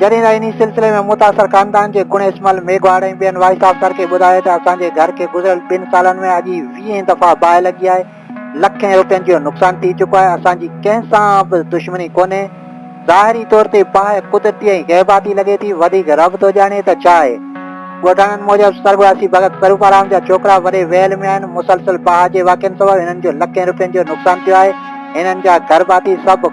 جڏهن ته انهي سلسلي ۾ متاثر خاندان جي گڻيش مل ميگهواڙ ۽ ٻين وائيس آفيسر کي ٻڌايو ته اسان جي گهر کي گذريل ٻن سالن ۾ اڄ ئي ويهين دفعا باهه لڳي آهي، لکين روپين جو نقصان ٿي چڪو آهي، اسان جي ڪنهن سان به دشمني ڪونهي، ظاهري طور تي باهه قدرتي ۽ غيباتي لڳي ٿي، وڌيڪ رب ٿو ڄاڻي ته ڇا آهي. ڳوٺاڻن موجب سرڳواسي ڀڳت سروپارام جا ڇوڪرا وڏي ويل ۾ آهن، مسلسل باهه جي واقعن سبب هنن جو لکين روپين جو نقصان ٿيو آهي، هنن جا گهر ڀاتي سڀ.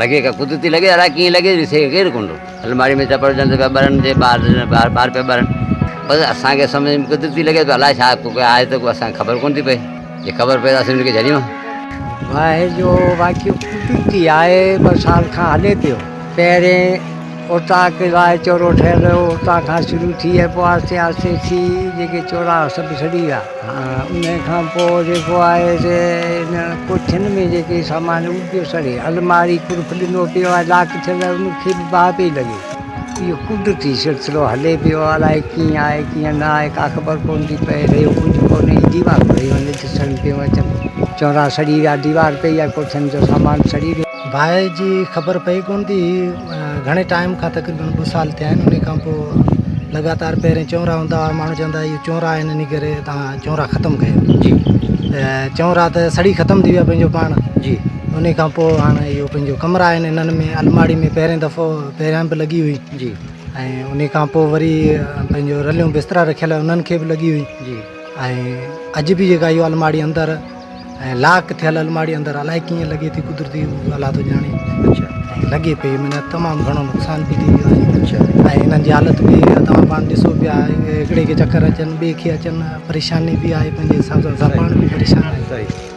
لڳي ڪا ڪدو تي لڳي الاء ڪيئن لڳي ڏسي ڪير ڪنڊو الماڙي ۾ چپڙ جنت پيا ٻرن جي ٻار ٻار ٻار پيا ٻرن بس اسان کي سمجھ ۾ ڪدو تي لڳي ته الاء ڇا ڪو آهي ته اسان کي خبر ڪون ٿي پئي جي خبر پئي ته اسين ان کي جھليون باهه جو واقعو ڪدو تي آهي ٻه سال کان هلي پيو پهرين اوطاق لاء چورو ٺهيل هو. اوطاق کان شروع ٿي ۽ پوء آهستي آهستي ٿي جيڪي چوراها سڀ سڙي ويا. ان کان پوء جيڪو آهي سي ان ڪوٺين ۾ جيڪي سامان هو اهو به پيو سڙي. الماري قلف ڏنو پيو ۽ لاڪ ٿيل هو ان کي به باهه پئي لڳي. اهو قدرتي سلسلو هلي پيو الائي ڪيئن آهي ڪيئن نه آهي ڪا خبر ڪونه ٿي پئي. رهيو ڪجهه ڪونه هي ديوارون رهيون هن ڏسڻ ۾ پيون اچن. چوراها سڙي ويا ديوار پئي ۽ ڪوٺين جو سامان سڙي ويو. باهه جي خبر پئي ڪونه ٿي گهڻي ٽائيم کان تقريبن ٻه سال ٿيا آهن ان کان پوء لڳاتار پهرين چونرا هوندا هئا ماڻهو چوندا هئا اهي چونرا آهن ان ڪري تان چونرا ختم ڪيو جي ته چونرا ته سڙي ختم ٿي ويا پنهنجو پاڻ جي ان کان پوء هاڻ اهو پنهنجو ڪمرا آهن انهن ۾ الماڙي ۾ پهرين دفعو پهريان به لڳي هئي جي ۽ ان کان پوء وري پنهنجو رليون بسترا رکيل انهن کي به لڳي هئي جي ۽ اڄ به جيڪا اهو الماڙي اندر ۽ لاڪ ٿيل الماڙي اندر الائي ڪيئن لڳي ٿي قدرتي اهو الله ٿو ڄاڻي اڇا ۽ لڳي پئي معنيٰ تمام گهڻو نقصان به ٿي ويو آهي اڇا ۽ هنن جي حالت به توهان پاڻ ڏسو پيا هڪڙي کي چڪر اچن ٻئي کي اچن پريشاني به آهي پنهنجي حساب سان زبان به پريشان آهي